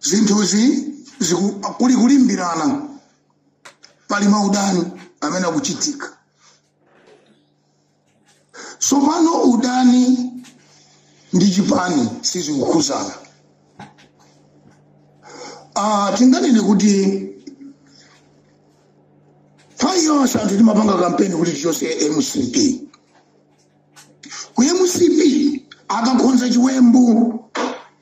zinthuzi ziku- kuli kulimbirana pali maudani amene akuchitika tsopano udani ndi chipani sizikukhuzana Ah, tinganene kuti nthawi yonse anthu timapanga kampeni kuti tichose mcp ku mcp akakhonza chiwembu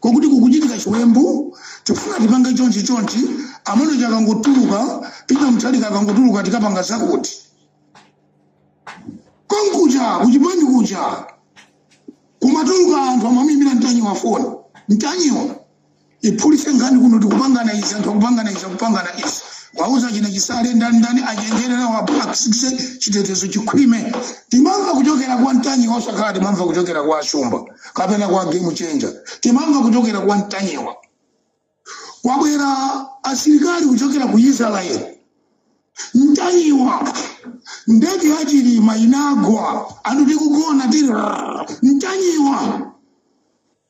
kokuti kukuchitika chiwembu tikufuna tipange chonchi chonchi amene chakangotuluka peter mutharika akangotuluka tikapanga zakuti konkuja kuchipani kuja kumatuluka anthu amamuimbira mtanyiwa foni mtanyiwa iphulise nkhani kuno tikupangana izi anthu akupangana izi akupangana izi wauza achina chisale ndani ndani achenjere awaphakisise chitetezo chikhwime timamva kuchokera kwa mtanyiwa osakhala timamva kuchokera kwa ashumba kapena kwa game changer timamva kuchokera kwa mtanyiwa kwabwera asilikali kuchokera ku israel mtanyiwa ndege ya chilima inagwa anthu tikugona tiri mtanyiwa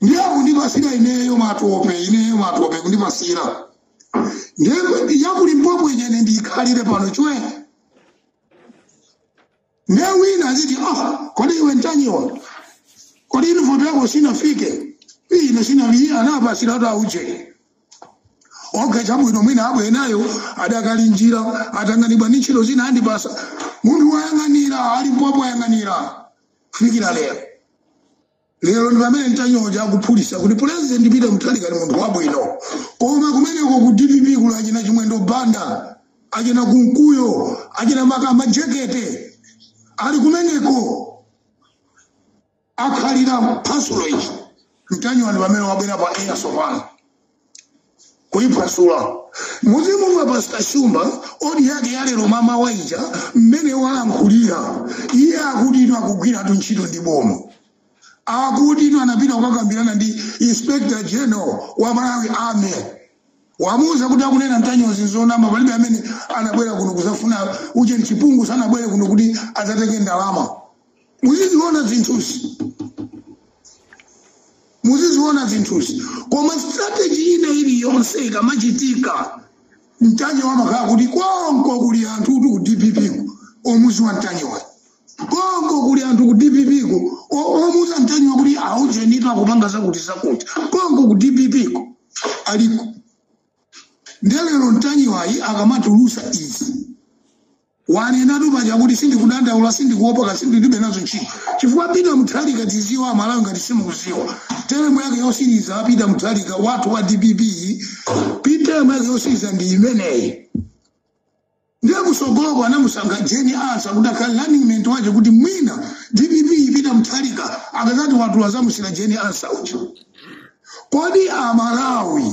ndiye akundipasira ineyo matope ineyo matope kundipasira ndiye ya ku limpopo ine ndikhalire pano chwe ndiye wina aziti ah kodi iwe ntanyiwa kodi uniform yako sinafike ine sinafike anapasira kuti auje okay chabwino mwina abwera nayo adakali mnjira atanganidwa ndi ntchito zina andipasa munthu wayang'anira a limpopo wayang'anira kufikira lero lero ndi pamene mtanyiwa uja akuphulisa kuti pulezidenti peter mutharika ndi munthu wabwino koma kumeneko ku dpp kuli achina chimwendo banda achina kunkuyu achina mkaka majekete ali kumeneko akhalira pa storage mtanyiwa ndi pamene wabwera pa air sopano kuyiphwasula muzimumva pastor shumba audio yake yalero mmamawa ija mmene walankhulira iye akuti iwo akugwiratu ntchito ndi boma akuti iwo anapita kukakambirana ndi inspector general wa malawi army wamuuza kuti akunena ntanyiwazi nzonama palibe amene anabwera kuno kuzafuna uje chipungu sanabwere kuno kuti adzatenge ndalama muziziona zinthuzi muziziona zinthuzi koma strategy ina iliyonse ikamachitika mtanyiwa amakhala kuti konko kuli anthu kuti ku dpp ko omuziwa mtanyiwayo konko kuli anthu ku dpp ko o- omuuza mtanyiwa kuti aujenitu akupanga zakuti zakuti konko ku dpp ko aliko nde lero mtanyiwayu akamatulusa izi wanenatu paja kuti sindikudandaula sindikuopa kasi ndilibe nazo ntchito chifukwa peter muthalika tiziwe amalawi ngati simukuziwa teremu yake yosiriza peter muthalika wathu wa dpp teremu yake yosiriza ndi imeneyi ndiye kusogoloko anamusankha jeni ansa kuti akhale running mate wake kuti mwina dpp peter muthalika akazati watula azamusira jeni ansa uja kodi amalawi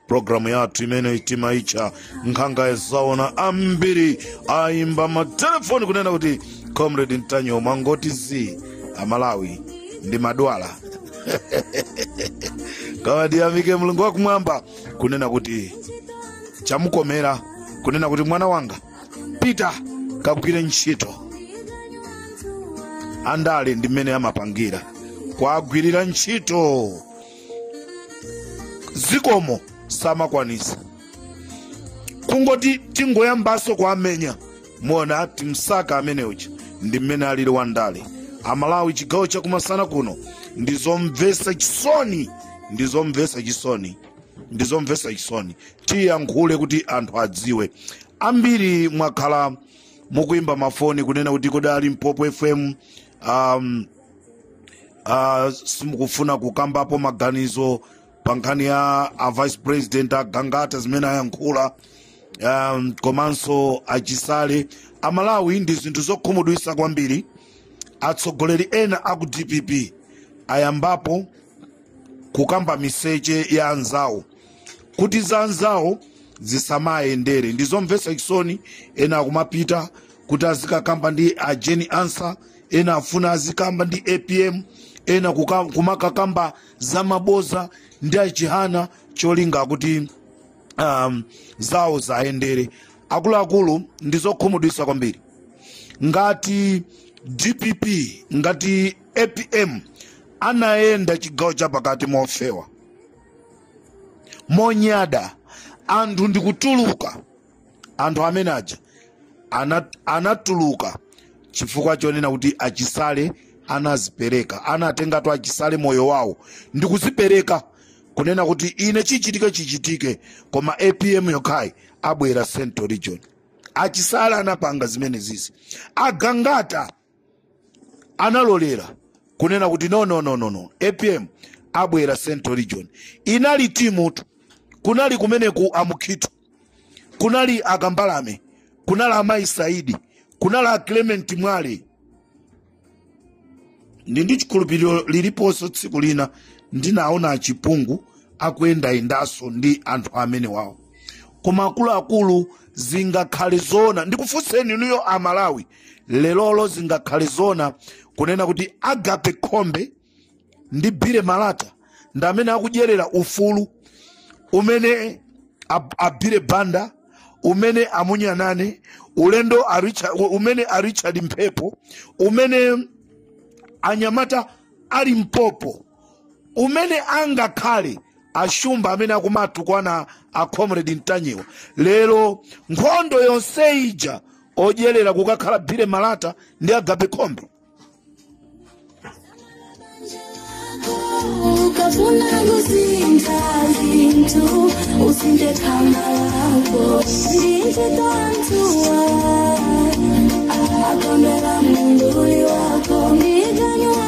programu yathu imene timaitcha nkhanga yazaona ambiri ayimba matelefoni kunena kuti comrade ntanyiwa mwangoti zii amalawi ndimadwala koma ndiyamike mulungu wakumwamba kunena kuti chamukomera kunena kuti mwana wanga pita kagwire ntchito andale ndiye mmene amapangira kwagwirira ntchito zikomo samakwanisa kungoti tingoyambaso kuwamenya muona a timsaka amene uja ndi mmene alili wa ndale amalawi chigawo chakumasana kuno ndizomvesa chisoni ndizomvesa chisoni ndizomvesa chisoni tiyankhule kuti anthu adziwe ambiri mwakhala mukuimba mafoni kunena kuti kodi a limpopo fm um, uh, simukufuna kukambapo maganizo pa nkhani ya a vice president agangata zimene ayankhula um, komanso achisale amalawi ndi zinthu zokhumudwisa kwambiri atsogoleri ena aku dpp ayambapo kukamba miseche ya anzawo kuti za anzawo zisamayendere ndizomvesa chisoni ena akumapita kuti azikakamba ndi ajeni ansa ena afuna azikamba ndi apm ena kuka- kumakakamba za maboza ndi achihana cholinga kuti um, zawo ziwayendere akuluakulu ndi zokhumudwisa kwambiri ngati dpp ngati apm anayenda chigawo cha pakati mofewa monyada anthu n'kutuluka anthu amene aja ana- anatuluka chifukwa chonena kuti achisale anazipereka anatengatu achisale moyo wawo ndi kuzipereka kunena kuti ine chichitike chichitike koma apm yokhayi abwera central region achisale anapanga zimenezizi agangata analolera kunena kuti no no no no no apm abwera central region inali team tu kunali kumeneku a Mukhito kunali a Kambalame kunali a Mayi Saidi kunali a clement mwale ndi ndi chikhulupiriro liliponso tsiku lina ndinaona a Chipungu akuyendayendanso ndi anthu amenewawo koma akuluakulu zingakhale zoona ndikufunseni inuyo amalawi lerolo zingakhale zoona kunena kuti agape khombe ndi bire malata ndi amene akudyerera ufulu umene a bire banda umene a munyanane ulendo umene a richard mphepo umene anyamata a limpopo umene angakhale ashumba amene akumatukwana a comrade mtanyiwa lero nkhondo yonse ija odyerera kukakhala bhire malata ndi agape khombe ukafuna kusinta zinthu usinde khama lako ndinjitanthuwa akondera munduli wako ndikanywa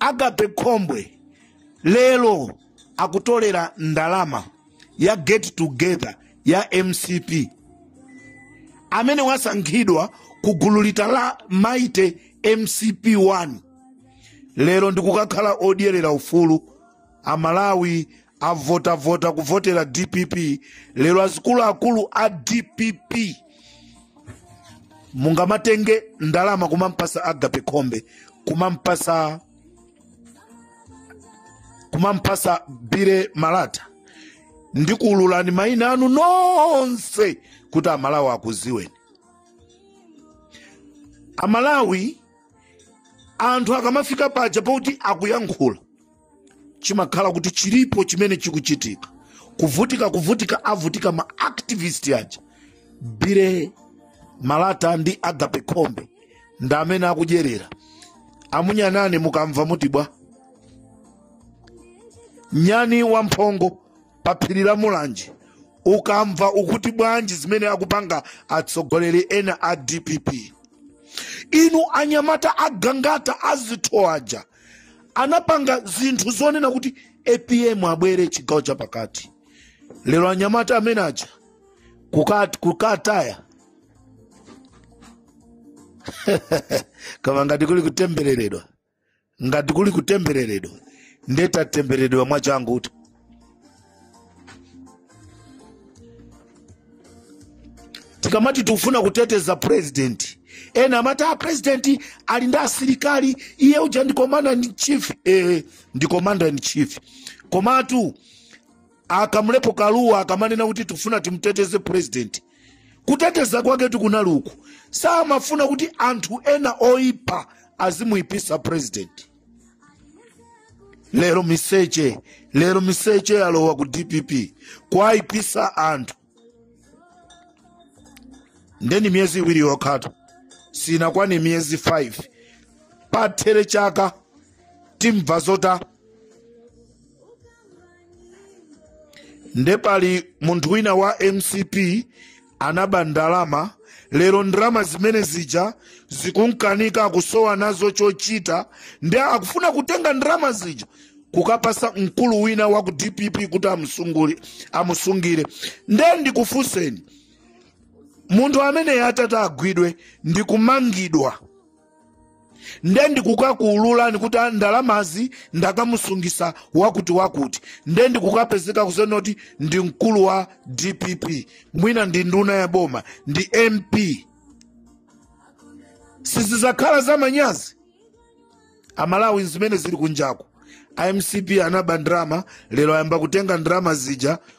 agape khombe lero akutolera ndalama ya get together ya mcp amene wasankhidwa ku gulu lita la mighty mcp 1 lero ndikukakhala odyerera ufulu amalawi avota avota kuvotera dpp lero azikuluakulu a dpp mungamatenge ndalama kumampasa agape khombe kumampasa bire malata ndikuululani maina anu nonse kuti amalawi akuziweni amalawi anthu akamafika paja poti akuyankhula chimakhala kuti chilipo chimene chikuchitika kuvutika kuvutika avutika ma activist aja bire malata ndi agape khombe ndi amene akudyerera a munyanane mukamva mutibwa nyani wamphongo pa phiri la mulanje ukamva ukuti bwanji zimene akupanga atsogoleri ena a dpp inu anyamata agangata azitho aja anapanga zinthu zonena kuti apm abwere chigawo cha pakati lero anyamata amene aja kukataya koma ngati kuli kutembereredwa ngati kuli kutembereredwa nde atatembereredwa mwachangu kuti tikamati tikufuna kuteteza president ena amati a president ali ndi asilikali iye uja ndi commander in chief eh, ndi commander in chief komatu akamlepo kaluwa akamanena kuti tikufuna timuteteze president kuteteza kwake tikunena uku samafuna kuti anthu ena oipa azimuipisa president lero miseche lero miseche yalowa ku dpp kwayipisa anthu nde ndi miyezi iwiri yokhatu sinakwane miyezi 5 pathere chaka timva zota nde pali munthu wina wa mcp anaba ndalama lero ndalama zimene zija zikumkanika akusowa nazo chochita nde akufuna kutenga ndalama zija kukapasa mkulu wina wa ku dpp kuti amusungule- amusungire nde ndikufunseni munthu ameneyo atati agwidwe ndi kumangidwa nde ndikukaulula kuti ndalamazi ndakamusungisa wakuti wakuti nde ndikukapezeka kunena kuti ndi mkulu wa dpp mwina ndi nduna ya boma ndi mp sizizakhala za manyazi amalawi zimene zili kunjaku a mcp anaba ndrama lero ayamba kutenga ndrama zija